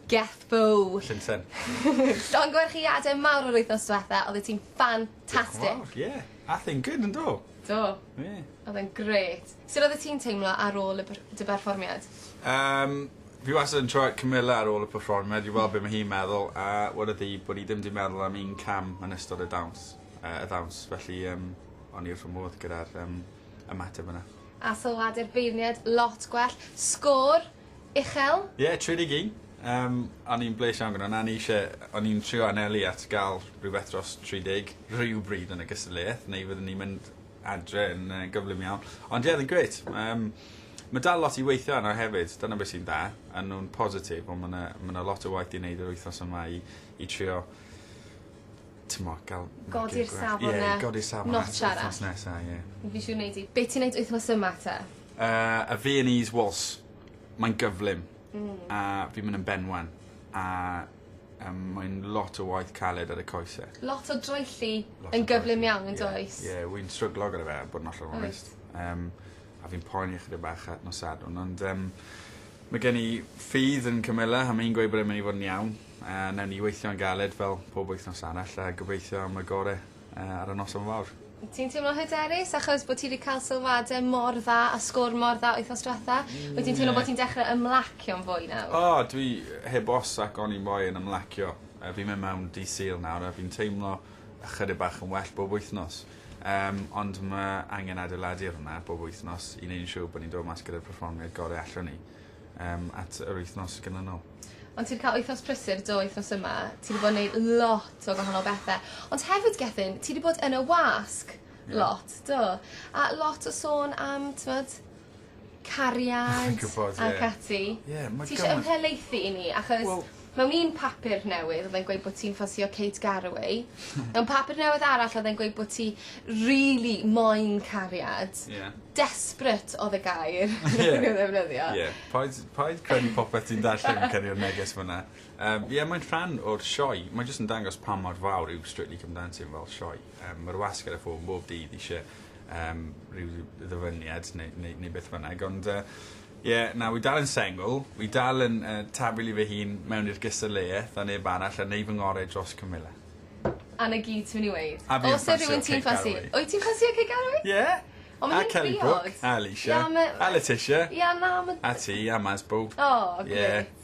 Gethfo! Llunsen. Llongyfarchiade mawr o'r wythnos dwetha, oddet ti'n ffantastic! Diolch yn fawr, ie. Ath e'n good yndo? Do. Ie. Odd e'n grêt. Sut oddet ti'n teimlo ar ôl y per- dy berfformiad? Yym fi wastad yn trio cymyla ar ôl y perfformiad i weld be' ma' hi'n meddwl a wedodd hi bod 'i ddim 'di meddwl am un cam yn ystod y dawns yy y ddawns felly yym o'n i wrth fy modd gyda'r yym ymateb yna. A sylwade'r beirniad lot gwell. Sgôr? Uchel? Ie, tri deg un. Yym o'n i'n blês iawn gyda 'na o'n i isie o'n i'n trio anelu at ga'l rhywbeth dros tri deg rywbryd yn y gystadleuaeth neu fyddwn ni'n mynd adre yn yy gyflym iawn. Ond ie odd e'n grêt. Yym ma' dal lot i weithio arno hefyd dyna be' sy'n dda. A nw'n positif on' ma' 'na ma' 'na lot o waith i neud yr wythnos yma i i trio t'mo' ga'l... Godi'r safon 'na. Ie i godi'r safon... Notch arall. ...wthnos nesa ie. Fi siŵr wnei di. Be' ti'n neud wythnos yma te? Yy y Viennese Waltz. Mae'n gyflym. Hmm. A fi'n myn' yn benwan. A yym mae'n lot o waith caled ar y coese. Lot o draethu yn gyflym iawn yndoes? Ie ie wi'n stryglo gyda fe bod yn ollol onest. Wyt. Yym a fi'n poeni ychydig bach ar nos Sadwrn ond yym ma' gen i ffydd yn Camilla a ma' 'i'n gweud bod e'n myn' i fod yn iawn a newn ni weithio'n galed fel pob wythnos arall a gobeithio am y gore. yy ar y noson fawr. Ti'n teimlo hyderus achos bod ti wedi cael sylwadau mor dda a sgôr mor dda wythnos diwetha'? Mm. Wyt ti'n teimlo bod ti'n dechrau ymlacio'n fwy nawr? O dwi heb os ac oni bai yn ymlacio. Yy fi'n mynd mewn dydd Sul nawr a fi'n teimlo ychydig bach yn well bob wythnos. Yym ond ma' angen adeiladu ar hwnna bob wythnos i neud yn siŵr bo' ni'n dod mas gyda'r perfformiad gore allwn ni. Yym at yr wythnos ganlynol. Ond ti'n cael wythnos prysur do wythnos yma. Ti wedi bod yn neud lot o gwahanol bethau. Ond hefyd Gethin, ti wedi bod yn y wasg yeah. lot, do. A lot o sôn am, tmod, cariad ac ati. Ie, yeah, Ti eisiau ymhelaethu i ni, achos well, Mewn un papur newydd odd e'n gweud bo' ti'n ffansio Kate Garraway. Mewn papur newydd arall odd e'n gweud bo' ti rili moyn cariad. Ie. Desperate odd y gair odd e'n ddefnyddio. Ie. Paid paid credu popeth ti'n darllen yn cyrru'r neges ma' 'na. Yym ie mae'n rhan o'r sioe. Mae jyst yn dangos pa mor fawr yw Strictly Come Dancing fel sioe. Yym ma'r wasg ar y ffôn bob dydd isie yym rhyw ddyfyniad neu neu neu beth bynnag ond yy Ie, na, wi dal yn sengl, wi dal yn yy tafelu fy hun mewn i'r gystadleuaeth a neb arall a neu fy ngoreu dros cymylau. A 'na gyd ti myn' i weud? A fi yn ffansio Kate Galloway. Wyt ti'n ffansio Kate Galloway? Ie. O ma' hi'n briod. A Kelly Brook a Alisha. Ie on' ma'... A Letitia. Ie on' na ma'... A ti a Maz bow. O grêt. Ie.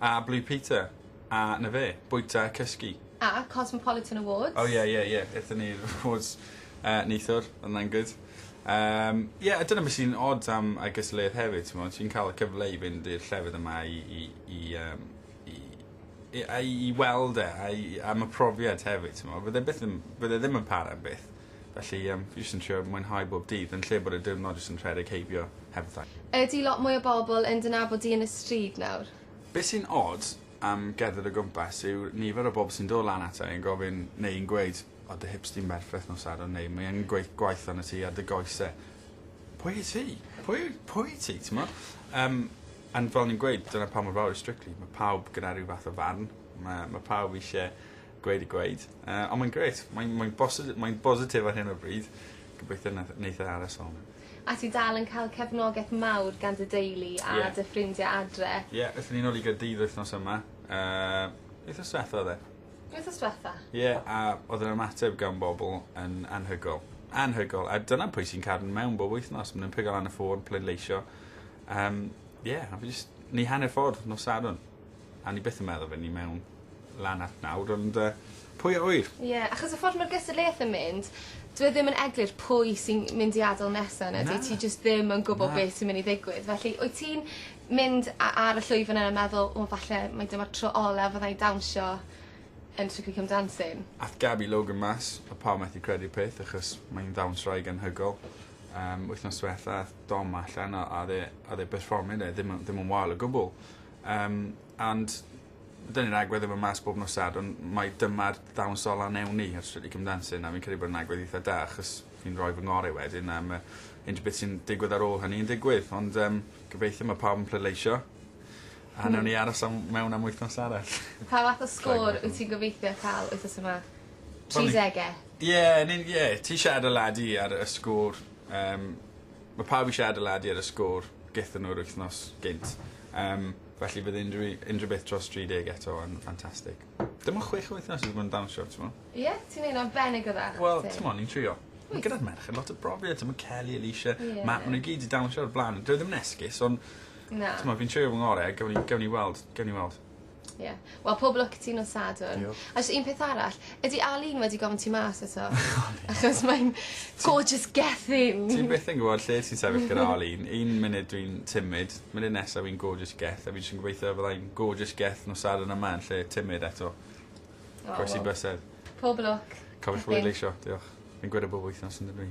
A Blue Peter. A 'na fe. Bwyta a cysgu. A Cosmopolitan Awards. O ie ie ie ethon ni i'r awards yy neithiwr odd wnna'n good. Yym ie a dyna be' sy'n od am I guess Lerth hefyd t'mod ti'n ca'l y cyfle i fynd i'r llefydd yma i i i yym i i a i i weld e a i am y profiad hefyd t'mo' fydd e byth yn fydd e ddim yn para am byth. Felly yym fi jyst yn trio mwynhau bob dydd yn lle bod y diwrnod jyst yn rhedeg heibio heb fy taith. Ydi lot mwy o bobl yn dy nabod di yn y stryd nawr? Be' sy'n od am gerdded o gwmpas yw nifer o bobl sy'n do' lan ata i yn gofyn neu yn gweud o dy hips di'n berffeth nos Sadwrn neu mae angen gweith- gwaith arnot ti ar dy goese. Pwy wyt ti? Pwy yw pwy wyt ti t'mo'? Yym ond fel o'n i'n gweud dyna pa mor fawr yw Strictly ma' pawb gyda ryw fath o farn ma' ma' pawb isie Gweud y gweud. Uh, ond mae'n grêt. Mae'n mae bosit- mae bositif ar hyn o bryd. Gobeithio nath- neith e aros fel 'na. A ti dal yn cael cefnogaeth mawr gan dy deulu a... Ie. ...dy ffrindiau adre? Ie aethon ni nôl i Gaerdydd wythnos yma. Yy wythnos dwetha oedd e? Wythnos dwetha. Ie a oedd yr ymateb gan bobl yn anhygol. Anhygol. A dyna pwy sy'n cadw'n mewn bob wythnos. Maen nhw'n pigo lan y ffôn, pleidleisio. Um, ie, a fi jyst... Ni hanner ffordd nos Sadwrn. A ni byth yn meddwl fy ni mewn lan at nawr ond yy pwy a ŵyr? Ie achos y ffordd ma'r gystadleuaeth yn mynd dyw e ddim yn eglur pwy sy'n mynd i ad'el nesa na dwyt ti jyst ddim yn gwbo be' sy myn' i ddigwydd felly wyt ti'n mynd a- ar y llwyfan yna meddwl o falle mae dyma'r tro ola fydda i'n dawnsio yn Strictly Come Dancing? Ath Gabby Logan mas a pawb methu credu'r peth achos mae 'i'n ddawnswraig anhygol yym wythnos dwetha ath Dom allan a a o'dd e a o'dd e perfformio 'na ddim yn ddim yn wael o gwbwl. Yym and dyni'r ni'n agwedd efo mas bob nosad on' mae dyma'r dawnsol a newn ni ar Strictly Come Dancing a fi'n credu bod e'n agwedd eitha da achos fi'n roi fy ngore wedyn a ma' unrhyw beth sy'n digwydd ar ôl hynny yn digwydd ond yym gobeithio ma' pawb yn pleidleisio a newn ni aros am mewn am wythnos arall. Pa fath o sgôr wyt ti'n gobeithio ca'l wythnos yma? Tri dege? Ie ni'n ie ti siarad â Ladi ar y sgôr Yym ma' pawb isie adeladu ar y sgôr gethon nw'r wythnos gynt yym felly bydd unryw u- unryw beth dros dri deg eto yn ffantastig. Dim ond chwech wythnos fi 'di bod yn dawnsio t'mo'? Ie? Ti'n neud yn arbennig o dda. Wel t'mo' ni'n trio. Wyt. Ma' gyda'r merched lot o brofiad t'mo' Kelly Alysha... Ie. ...Matt ma' n'w gyd 'di dawnsio o'r bla'n dyw e ddim yn esgus on'... Na. ...t'mo' fi'n trio fy ngore a gewn ni gewn ni weld gewn ni weld. Ie. Wel pob lwc i ti nos Sadwrn. Diolch. A jys un peth arall ydi Arlene wedi gofyn ti mas eto? Achos mae'n gorgeous gethin! Ti byth yn gwbod lle ti'n sefyll gyda Arlene. Un munud dwi'n timid munud nesa fi'n gorgeous geth a fi jys yn gobeithio fydda i'n gorgeous geth nos Sadwrn yma yn lle timid eto. O wel. Croesi bysedd. Pob lwc. Cofiwch bleidleisio. Diolch. Fi'n gweud e bob wythnos on'd ydw i?